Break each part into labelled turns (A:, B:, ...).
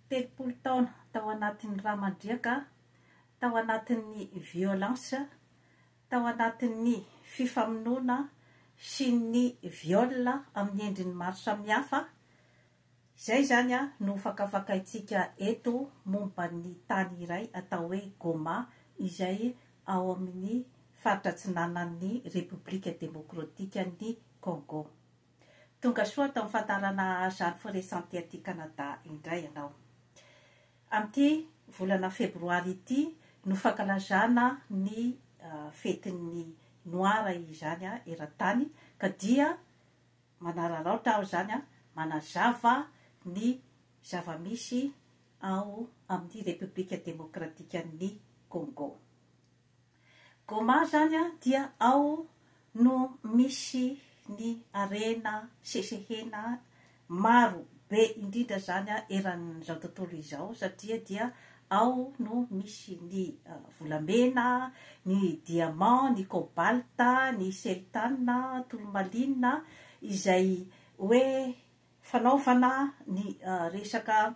A: Telopolo taona tao anatin'ny rà mandriaka, tao anatin'ny violence, tao anatin'ny fifamonoana sy ny viol amin'ny endriny maro samihafa, izay izany no fakafakaintsika eto momba ny tany iray atao hoe Goma izay ao amin'ny faritra atsinanan'ny Repoblika Demokratikan'i Congo. Tonga soa tao amin'ny fandaharana Azar Forest Santé aty Canada indray ianao. Amin'ity volana febroary ity no fankalazana ny fetin'ny Noir izany eran-tany ka dia manararaotra aho izany manazava ny zava-misy ao amin'ny Repoblika Demokratikan'ny Congo. Goma zany an dia ao no misy ny harena sesehena maro be indrindra zany an eran'izao tontolo izao satria dia ao no misy ny volamena, ny diamant, ny cobalt, ny seltane, tourmaline izay hoe fanaovana ny resaka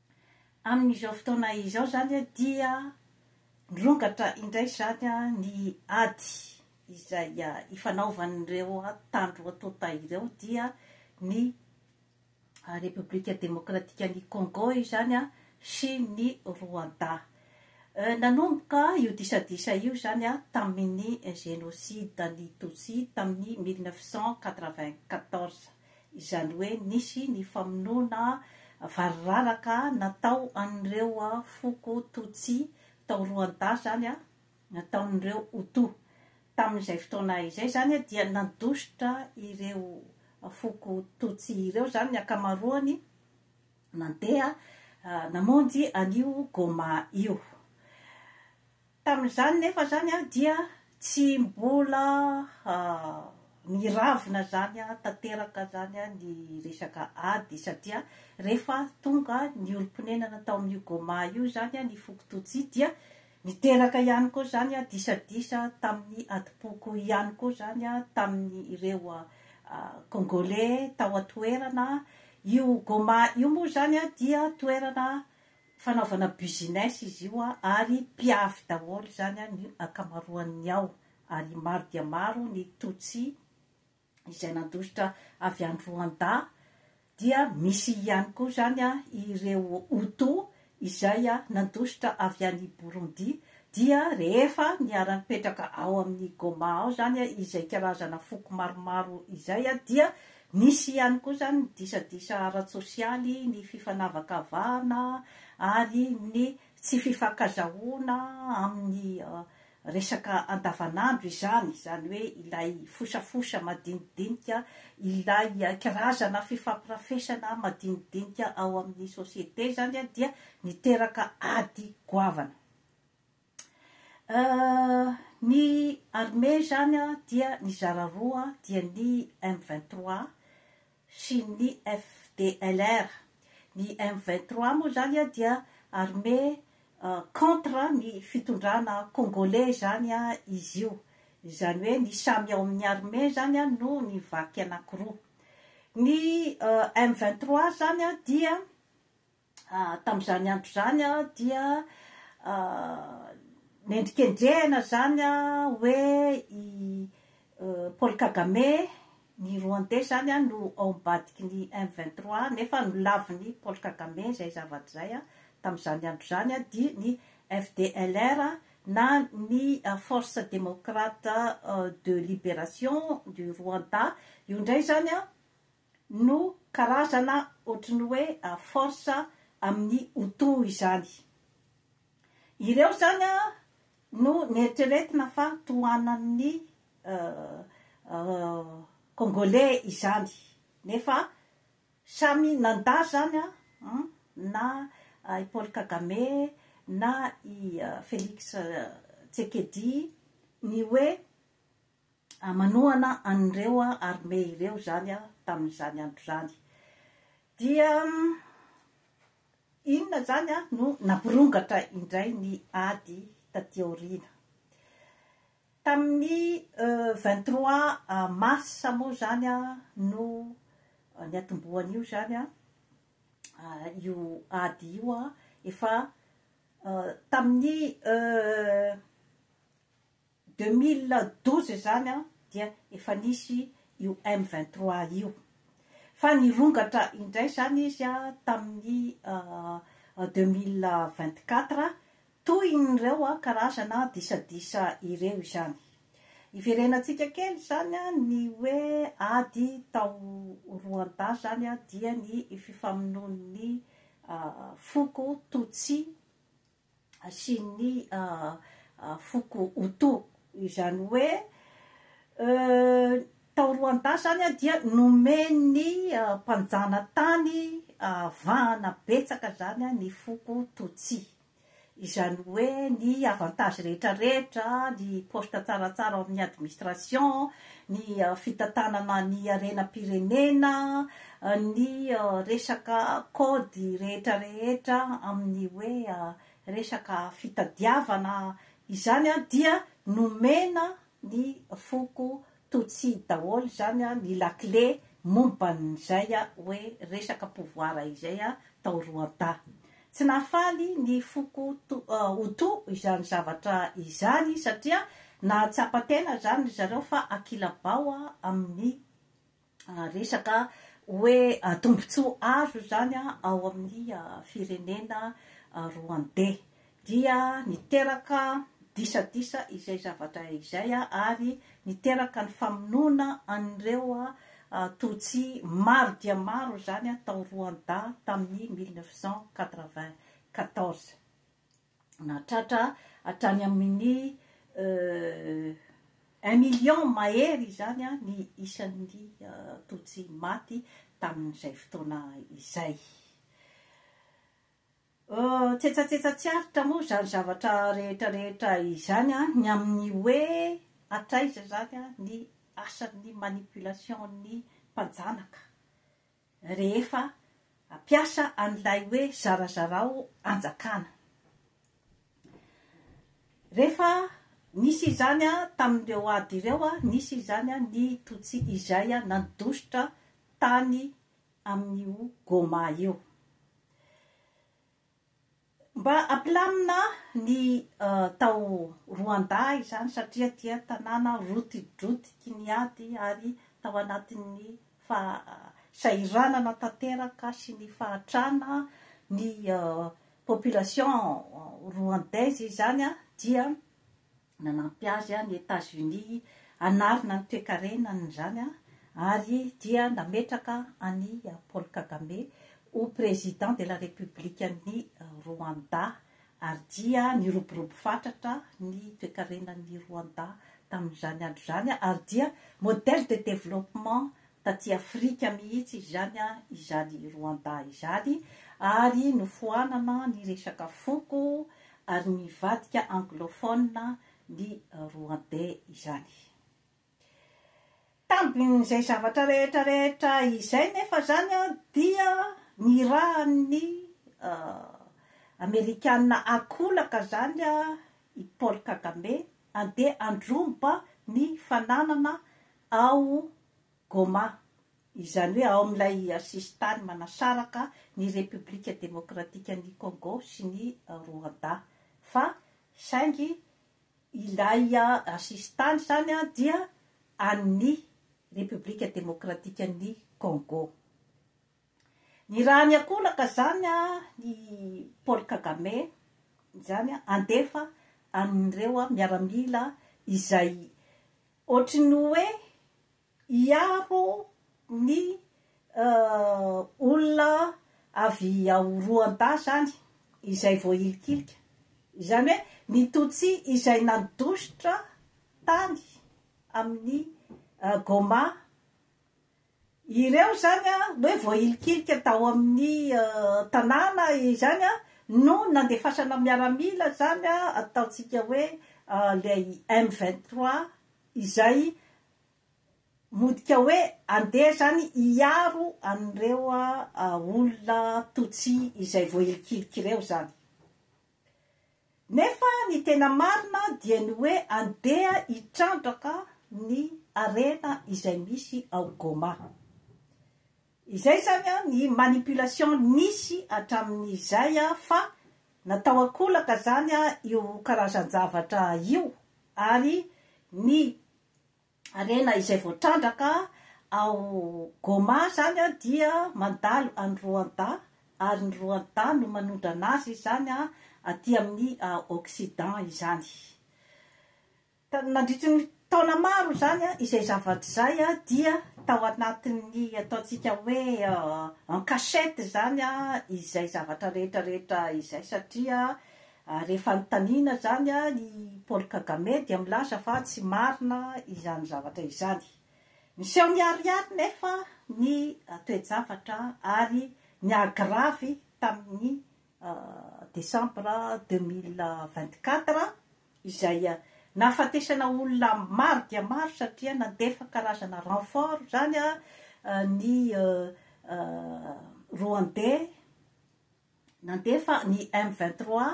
A: Amin'izao fotoana izao izany dia mirongatra indray izany ny ady izay ifanaovan'ireo mpitandro tonta ireo dia ny Repoblika Demokratikan'i Kôngô izany sy ny Rwanda. Nanomboka io disadisa io izany tamin'ny génocide an'ny Tutsi tamin'ny mille neuf cent quatre-vingt-quatorze. izany hoe nisy ny famonoana variraraka natao an'ireo foko Tutsi tao Rwanda izany, nataon'ireo Hutu. Tamin'izay fotoana izay izany dia nandositra ireo foko Tutsi ireo izany ny ankamaroany nandeha namonjy an'io Goma io. Tamin'izany nefa izany aho dia tsy mbola niravina izany tanteraka izany ny resaka ady satria rehefa tonga ny olom-ponenana tao amin'io Goma io izany ny foko Tutsi dia niteraka ihany koa izany disadisa tamin'ny adim-poko ihany koa izany tamin'ireo Kongoley tao an-toerana. Io Goma io moa izany dia toerana Fanaovana business izy io ary mpiavy daholo izany ny ankamaroan'ny ao ary maro dia maro ny Tutsi izay nandositra avy any Rwanda dia misy ihany koa izany ireo Hutu izay nandositra avy any Burundi dia rehefa niara-nipetraka ao amin'ny Goma ao izany izay karazana foko maromaro izay dia Nisy ihany koa izany ny disadisa ara-tsosialy, ny fifanavakavahana ary ny tsy fifankazahoana amin'ny resaka andavanandro izany, izany hoe ilay fosafosa madinidinika, ilay karazana fifampirafesana madinidinika ao amin'ny société izany dia niteraka ady goavana. Ny armée izany dia nizara roa dia ny M vingt trois sy ny FDLR. Ny M vingt trois moa izany dia armée contre ny fitondrana kongoley izany izy io. Izany hoe ny samy ao amin'ny armée izany no nivaky anankiroa. Ny M vingt trois izany dia. Tamin'izany andro izany dia nendrikendrehina izany hoe i Paul Kagame, ny Rwandais izany no ao ambadiky ny M vingt trois nefa nolavin'i Paul Kagame izay zavatra izay tamin'izany andro izany dia ny FDLR na ny Force Démocrate de Libération du Rwanda, io indray izany no karazana ohatry ny hoe force amin'ny Hutu izany. Ireo izany no neritreretina fa tohanan'ny Congolais izany nefa samy nanda izany na i Paul Kagame na i Felix Tsekedi ny hoe manohana an'ireo armées ireo izany tamin'izany andro izany. Dia inona izany no nampirongatra indray ny ady taty aoriana. Tamin'ny 23 mars moa izany no niatombohan'io izany io ady io efa tamin'ny Deux mille douze izany an dia efa nisy io M vingt trois io fa nirongatra indray izany izy an tamin'ny deux mille vingt quatre tohin'ireo an karazana disadisa ireo izany. Hiverenantsika kely izany an ny hoe ady tao Rwanda izany an dia ny fifamonoan'ny foko Tutsi sy ny foko Hutu, izany hoe tao Rwanda izany dia nomen'ny mpanjanatany vahana betsaka izany ny foko Tutsi, izany hoe ny avantages rehetra rehetra, ny poste tsaratsara ao amin'ny administration, ny fitantanana ny harenam-pirenena, ny resaka kaody rehetra rehetra amin'ny hoe resaka fitadiavana izany dia nomena ny foko Tutsi daholo izany ny lakile momban'izay hoe resaka pouvoir izay tao Rwanda. Tsy nahafaly ny foko Hutu izany zavatra izany satria nahatsapa tena izany ry zareo fa akilabao amin'ny resaka hoe tombontsoa azo izany ao amin'ny firenena Rwandey. Dia niteraka disadisa izay zavatra izay ary niteraka ny famonoana an'ireo Tutsi maro dia maro izany tao Rwanda tamin'ny mille neuf cent quatre-vingt-quatorze. Nahatratra hatrany amin'ny un million mahery izany ny isan'ny Tutsi maty tamin'izay fotoana izay. Tsetsatsetsa tsy aritra moa izany zavatra rehetra rehetra izany an, ny amin'ny hoe hatraiza izany an ny asan'ny manipulation-n'ny mpanjanaka rehefa hampiasa an'ilay hoe zarazarao anjakana. Rehefa nisy izany an tamin'ireo ady ireo an, nisy izany an ny Tutsi izay an nandositra tany amin'io Goma io. Mba ampilamina ny tao Rwanda izany satria dia tanàna rotidrotiky ny ady ary tao anatin'ny fahasahiranana tanteraka sy ny fahatrana ny population rwandaise izany dia Nanampy azy ny Etazonia hanarina ny toekarenany izany ary dia nametraka an'i Paul Kagame ho Président de la République an'i Rwanda ary dia niroborobo fatratra ny toekarenan'i Rwanda tamin'izany andro izany ary dia modèle de développement taty Afrika mihitsy izany izany Rwanda izany ary nofoanana ny resaka foko ary nivadika anglophone ny Rwandais izany. Tambin'izay zavatra rehetra rehetra izay nefa izany dia nirahan'ny Amerikana ankolaka izany i Paul Kagame handeha handroba ny fananana ao Goma, izany hoe ao amin'ilay sisintany manasaraka ny Repoblika Demokratikan'i Kôngô sy ny Roandà, fa saingy ilay sisintany izany dia an'ny Repoblika Demokratikan'i Kôngô. Ny raha ny ankolaka izany, i Paul Kagame izany handefa an'ireo miaramila izay. Ohatry ny hoe hiaro ny olona avy ao Rwanda izany izay voahilikilika. Izany hoe ny Tutsi izay nandositra tany amin'ny Goma Ireo izany hoe voahilikilika tao amin'ny tanàna izany no nandefasana miaramila izany ataontsika hoe ilay M vingt trois izay modika hoe andeha izany hiaro an'ireo olona Tutsi izay voahilikilika ireo izany. Nefa ny tena marina dia ny hoe andeha hitrandraka ny harena izay misy ao Goma. Izay izany ny manipulation nisy hatramin'izay fa natao an-kolaka izany io karazan-javatra io ary ny Harena izay voatrandraka ao Goma izany dia mandalo any Rwanda ary ny Rwanda no manondrana azy izany aty amin'ny Occident izany. Nandritry ny taona maro izany izay zavatra izay dia tao anatin'ny ataontsika hoe en cachette izany izay zavatra rehetra rehetra izay satria Ary rehefa anontaniana izany i Paul Kagame dia milaza fa tsy marina izany zavatra izany. Miseho miharihary nefa ny toe-javatra ary ni-agravy tamin'ny Desambra deux mille vingt-quatre izay nahafatesana olona maro dia maro satria nandefa karazana renfort izany ny Rwandais. Nandefa ny M vingt trois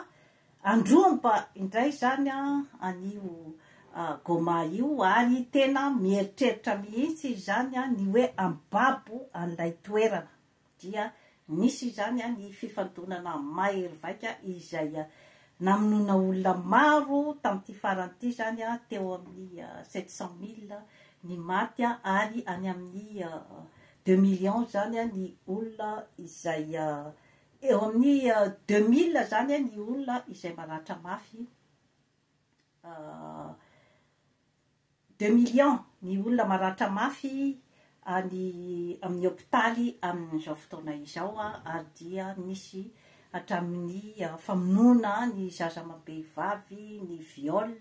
A: handromba indray izany an'io Goma io ary tena mieritreritra mihitsy izy izany ny hoe hambabo an'ilay toerana. Dia nisy izany ny fifandonana mahery vaika izay namonoana olona maro tamin'ity farany ity izany, teo amin'ny sept cent mille ny maty ary any amin'ny Deux millions zany an ny olona izay eo amin'ny deux mille zany an ny olona izay maratra mafy deux millions ny olona maratra mafy any amin'ny hopitaly amin'izao fotoana izao an ary dia misy hatramin'ny famonoana ny zaza amam-behivavy, ny viol,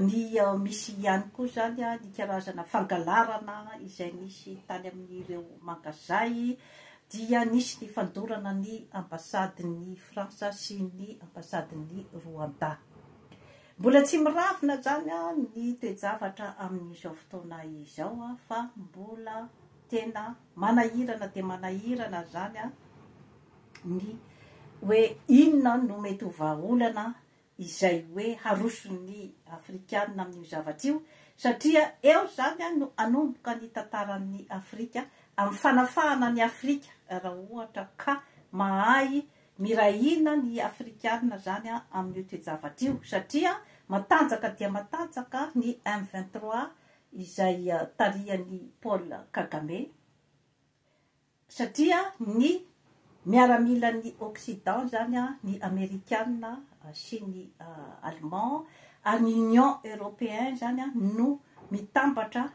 A: ny misy ihany koa izany ny karazana fangalarana izay nisy tany amin'ireo mangazay dia nisy ny fandorana ny ambasadin'i Frantsa sy ny ambasadin'i Rwanda. Mbola tsy miravona izany ny toe-javatra amin'izao fotoana izao fa mbola Tena manahirana dia manahirana izany ny hoe inona no mety ho vahaolana izay hoe haroson'ny afrikana amin'io zavatra io satria eo izany no hanomboka ny tantaran'ny Afrika amin'ny fanafahana ny Afrika raha ohatra ka mahay miray hina ny afrikana izany amin'io toe-javatra io satria matanjaka dia matanjaka ny M vingt trois izay tarihan'i Paul Kagame satria ny miaramilan'ny occident izany ny amerikana sy ny allemand ary ny union europeen izany no mitambatra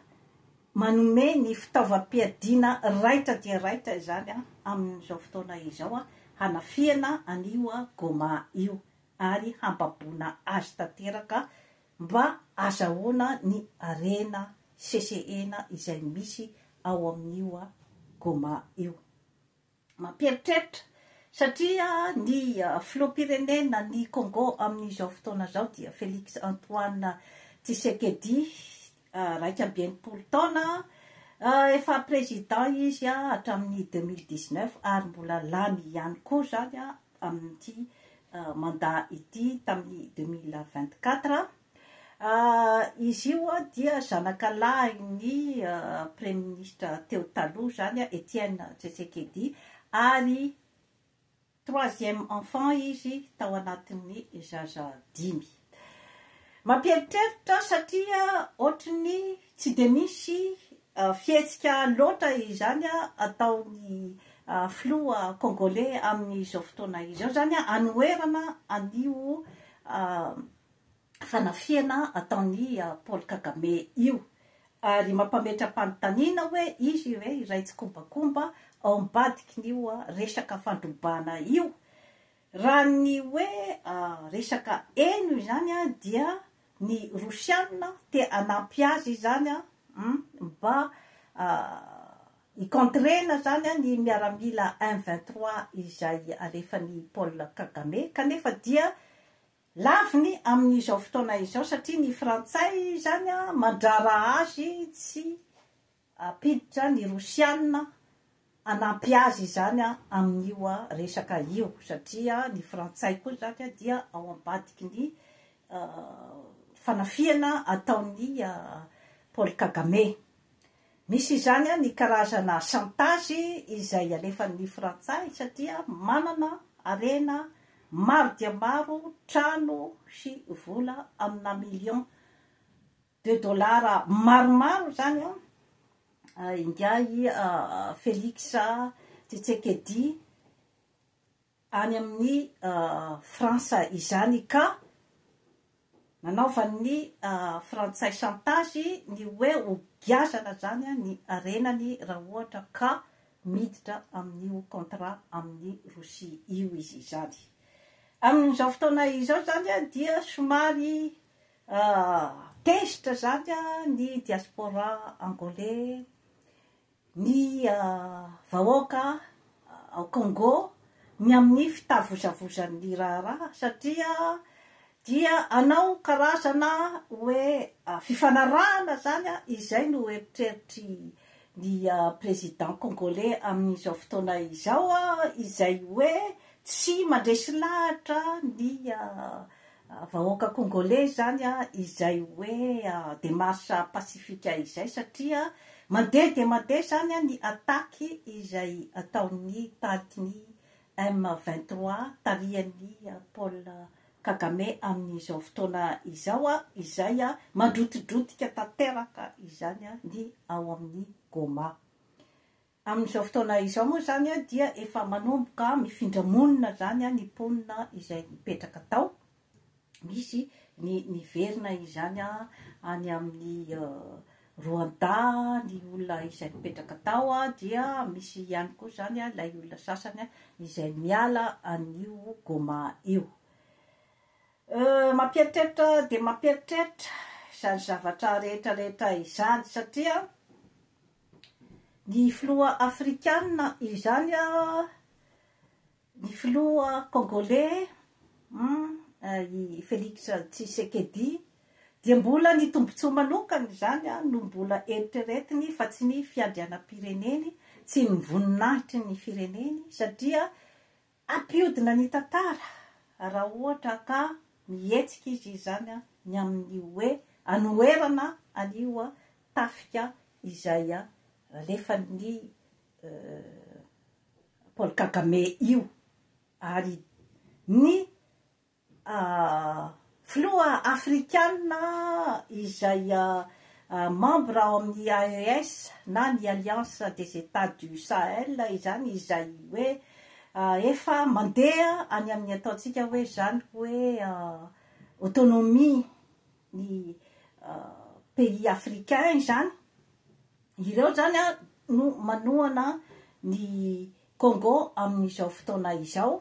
A: manome ny fitaovam-piadiana raitra dia raitra izany amin'izao fotoana izao hanafihana an'io Goma io ary hambaboana azy tanteraka Mba azahoana ny harena sesehena izay misy ao amin'io Goma io. Mampieritreritra satria ny filoham-pirenena ny Congo amin'izao fotoana izao dia Felix Antoine Tshisekedi iraika amby enimpolo taona, efa président izy hatramin'ny deux mille dix neuf ary mbola lany ihany koa izany amin'ity mandat ity tamin'ny deux mille vingt quatre, izy io dia zanaka lahin'ny praiminisitra teo taloha izany Etienne Tshisekedi ary. Troisième enfant izy tao anatin'ny zaza dimy. Mampieritreritra satria ohatry ny tsy dia misy fihetsika loatra izany ataon'ny filoha kongoley amin'izao fotoana izao izany hanoherana an'io fanafihana ataon'i Paul Kagame io ary mampametra-panontaniana hoe izy ve iray tsikombakomba ao ambadikin'io resaka fandrobana io. Raha ny hoe resaka heno izany dia ny rosianina te hanampy azy izany mba hi-contrer-na izany ny miaramila M23 izay alefan'i Paul Kagame kanefa dia Laviny amin' izao fotoana izao satria ny Frantsay izany mandraraha azy tsy hampiditra ny Rosiana hanampy azy izany amin' io resaka io satria ny Frantsay koa izany dia ao ambadiky ny fanafihana ataon' i Paul Kagame. Misy izany ny karazana chantage izay alefan'ny frantsay satria manana harena maro dia maro, trano sy vola amina millions de dollars maromaro izany an, ingahy Felix Tsetsekedi. any amin'ny Frantsa izany ka nanaovan'ny Frantsay chantage ny hoe ho giazana izany ny harenany raha ohatra ka miditra amin'io contrat amin'i Rosia io izy izany. Amin'izao fotoana izao izany dia somary tezitra izany ny diaspora angolais ny vahoaka ao Congo ny amin'ny fitavozavozan'ny raharaha satria dia hanao karazana hoe fifanarahana izany izay no heritreritry ny président Congolais amin'izao fotoana izao izay hoe tsy mandresy lahatra ny Vahoaka Kongoley izany izay hoe demarche pacifique izay satria mandeha dia mandeha izany ny attaque izay ataon'ny tarikin'ny M vingt trois tarihan'i Paul Kagame amin'izao fotoana izao izay mandrotidrotika tanteraka izany ny ao amin'ny Goma. Amin'izao fotoana izao moa izany dia efa manomboka mifindra monina izany ny mponina izay nipetraka tao, misy ny niverina izany any amin'ny Rwanda ny olona izay nipetraka tao dia misy ihany koa izany ilay olona sasany izay miala an'io Goma io. Mampieritreritra dia mampieritreritra izany zavatra rehetrarehetra izany satria Ny filoha afrikana izany a, ny filoha congolais an, i Felix Tshisekedi dia mbola ny tombotsoa manokany izany an no mbola eritreretiny fa tsy ny fiandrianam-pireneny, tsy ny voninahitry ny fireneny satria Hampiodina ny tantara raha ohatra ka mihetsika izy izany ny amin'ny hoe anoherana an'io tafika izay alefan'i Paul Kagame io ary ny Filoha afrikana izay membre ao amin'ny AES na ny Alliance des Etats du Sahel izany izay hoe efa mandeha any amin'ny ataontsika hoe izany hoe autonomie ny pays africain izany, ireo izany no manohana ny Congo amin'izao fotoana izao.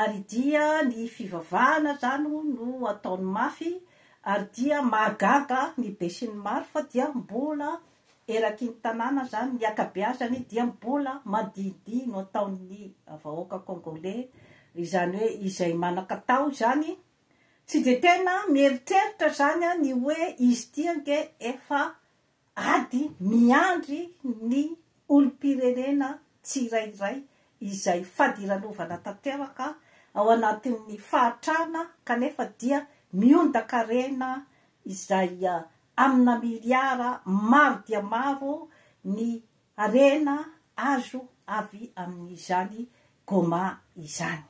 A: Ary dia ny fivavahana izany no ataony mafy, ary dia mahagaga ny besinimaro fa dia mbola eraky ny tanàna izany, ny ankabeazany dia mbola mandihindihy no ataon'ny vahoaka Kongoley, izany hoe izay manan-katao izany, tsy dia tena mieritreritra izany ny hoe izy ity ange efa Ady miandry ny olom-pirenena tsirairay izay fadiranovana tanteraka ao anatin'ny fahatrana kanefa dia miondan-karena izay amina miliara maro dia maro ny Harena azo avy amin'izany goma izany.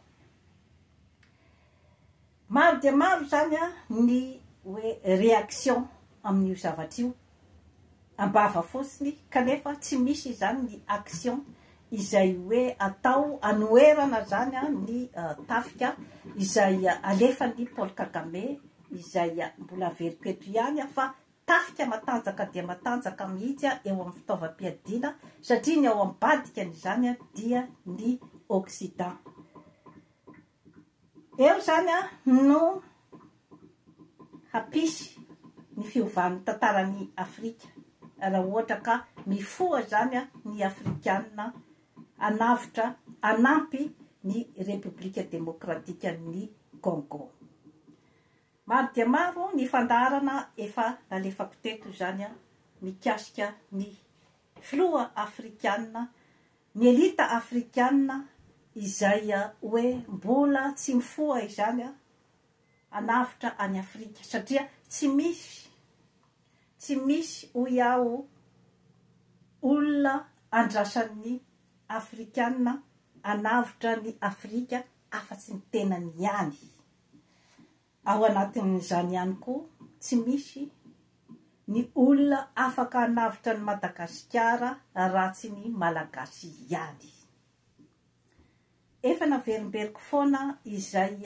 A: Maro dia maro izany ny hoe réaction amin'io zavatra io am-bava fotsiny kanefa tsy misy izany ny action izay hoe atao anoherana izany ny tafika izay alefan'i Paul Kagame izay mbola averiko eto ihany fa Tafika matanjaka dia matanjaka mihitsy eo amin'ny fitaovam-piadiana satria ny ao ambadikan'izany dia ny Occident. Eo izany no hampisy ny fiovan'ny tantaran'i Afrika raha ohatra ka mifoha izany ny Afrikana hanavotra, hanampy ny Repoblika Demokratikan'ny Congo. Maro dia maro ny fandaharana efa nalefako teto izany mikasika ny filoha afrikana, ny elita afrikana izay hoe mbola tsy mifoha izany hanavotra an'i Afrika satria tsy misy, tsy misy hoy aho olona andrasan'ny afrikana hanavotra an'i Afrika afa-tsy ny tenany ihany. Ao anatin'izany ihany koa, tsy misy ny olona afaka hanavotra an'i Madagasikara raha tsy ny Malagasy ihany. Efa naverimberiko foana izay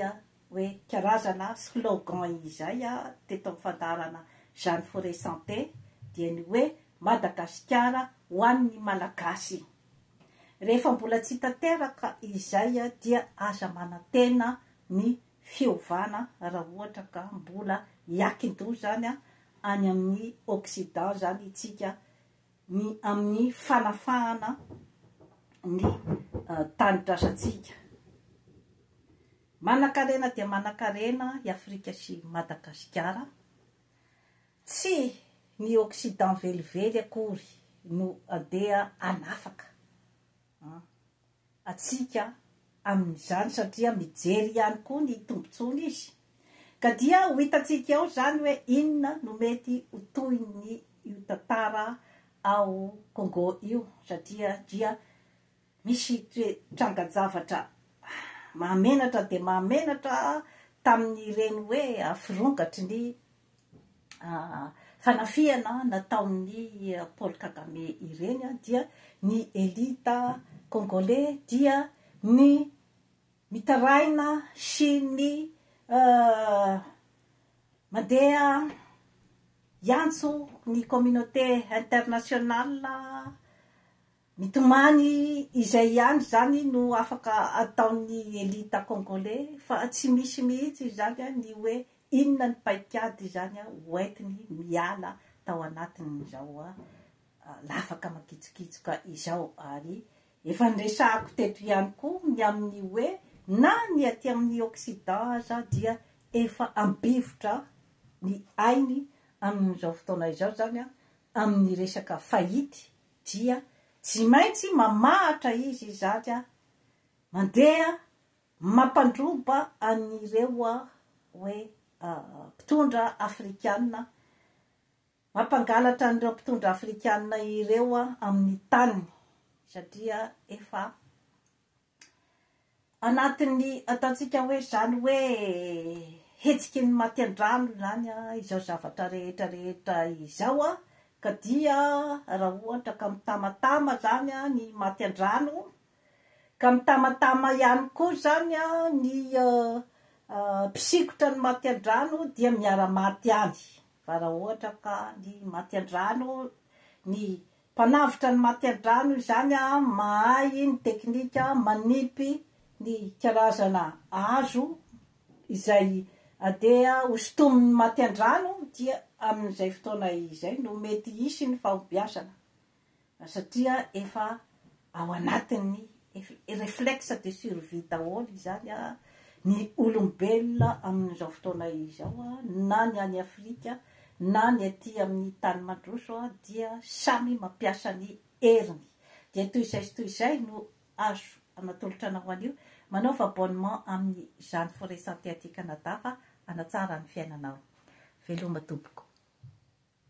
A: hoe karazana slogan izay teto amin'ny fandaharana Jeanne Foret Santé, dia ny hoe Madagasikara ho an'ny Malagasy. Rehefa mbola tsy tanteraka izay dia aza manantena ny fiovana raha ohatra ka mbola hiakin-doha izany any amin'ny occident izany isika ny amin'ny fanafahana ny tanindrazantsika. Manankarena dia manankarena i Afrika sy Madagasikara. Tsy ny occident velively akory no andeha hanafaka an atsika amin'izany satria mijery ihany koa ny tombontsoany izy ka dia ho hitantsika eo izany hoe inona no mety ho tohin'ny io tantara ao Congo io satria dia misy toe trangan-javatra mahamenatra dia mahamenatra tamin'ireny hoe aforongatry ny fanafihana nataon'i Paul Kagame ireny dia ny elite Kongoley dia ny mitaraina sy ny mandeha hiantso ny communauté internationale Mitomany izay ihany izany no afaka ataon'ny elita Congolais fa tsy misy mihitsy izany ny hoe inona ny paikady izany ho entiny miala tao anatin'izao lafaka makitsokitsoka izao ary efa niresahako teto ihany koa ny amin'ny hoe na ny aty amin'ny Occident aza dia efa ambivotra ny ainy amin'izao fotoana izao izany amin'ny resaka fahity dia tsy maintsy mamahatra izy izany mandeha mampandroba an'ireo hoe mpitondra afrikana, mampangalatra an'ireo mpitondra afrikana ireo amin'ny taniny satria efa Anatin'ny ataontsika hoe izany hoe hetsiky ny maty an-drano izany izao zavatra rehetra rehetra izao an, ka dia raha ohatra ka mitamatama izany ny maty an-drano, ka mitamatama ihany koa izany ny mpisikotra ny maty an-drano dia miara-maty any, fa raha ohatra ka ny maty an-drano, ny Mpanavotra ny matiadrano izany mahay ny teknika manipy ny karazana hazo izay andeha ho sintomin'ny matiandrano dia amin'izay fotoana izay no mety hisy ny fahombiazana satria efa Ao anatin'ny réflexe de survie daholo izany ny olombelona amin'izao fotoana izao na ny any Afrika na ny aty amin'ny tany mandroso dia samy mampiasa ny heriny. Dia toy izay sy toy izay no azo anatolotra anao anio. Manaova abonnement amin'izany Forêt Santé aty Canada fa hanatsara ny fiainanao. Veloma tompoko.